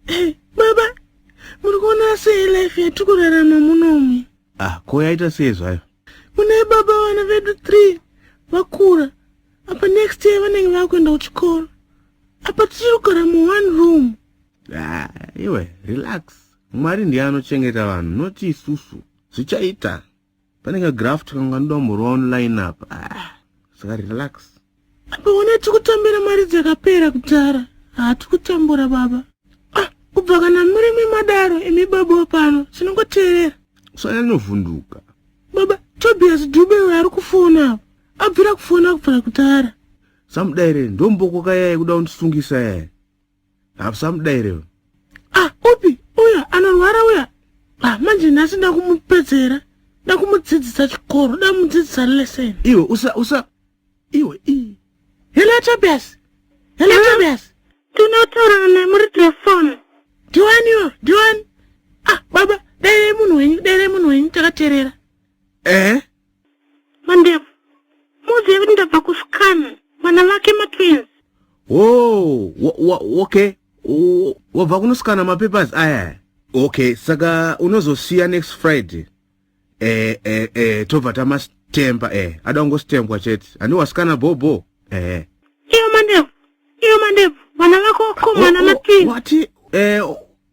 Eh, baba muri kuona sei life yatiri kurarama munomu ah ko yaita sei zvayo mune baba vana vedu three vakura apa next year vanenge vava kuenda kuchikoro apa tichiri kugara muone room ah, iwe relax mwari ndiye anochengeta vanhu noti isusu zvichaita pane ka graft kanga kanoda kumborwa online apa ah, saka relax apaona tikutambira mari dzakapera kudhara hatikutambura baba ah, kubva kana murimi madaro imi baba pano tinongoteerera swana linovhunduka baba tobias dube uyo ari kufona apa abvira kufona kubvira kudhara samudaire ndomboko kayai kuda kundisungisa yaya hapusamudaire uyu ah upi uya anorwara uya ah manje nhasi ndakumupedzera ndakumudzidzisa chikoro ndamudzidzisa lesson iwe usa usa iwe i hello tobias hello yeah. tobias tinotaura naye muri telefoni ndiwani iwe ndiwani ah baba dairei munhu wenyu dairei munhu wenyu takaterera ehe eh? Mandevu, muuzive kuti ndabva kuscan vana vake matwins. Oh, okay. Wabva kunosikana mapapers aya. Okay, saka unozosiya next Friday. Eh, eh, eh, tobva tamastemba eh. Ada kungositembwa chete. Ani wasikana bobo. Eh. Iyo mandevu. Iyo mandevu. Vana vako komana oh, oh, matwins. What? Eh,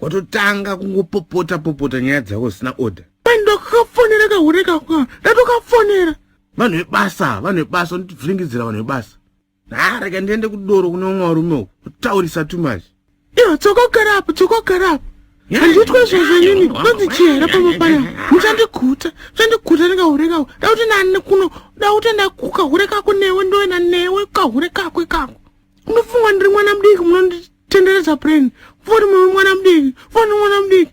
watotanga kungopopota popota nyaya dzako zisina order ndokafonera kahure kakwa ndatokafonera vanhu vebasa vanhu vebasa unotibviringidzira vanhu vebasa nhareka ndiende kudoro kune umwe varume uku kutaurisa too much iyo tsokogara apo tsokogara apo handiitwe zvozvo inini kwanzi chihera pamba paya muchandiguta muchandiguta ndikahure kako dakuti nani kuno dakuti ndakukahure kako newe ndoena newe kahure kakwe kako munofunga ndiri mwana mudiki munonditenderedza pureni mvori mwana mudiki mvori mwana mudiki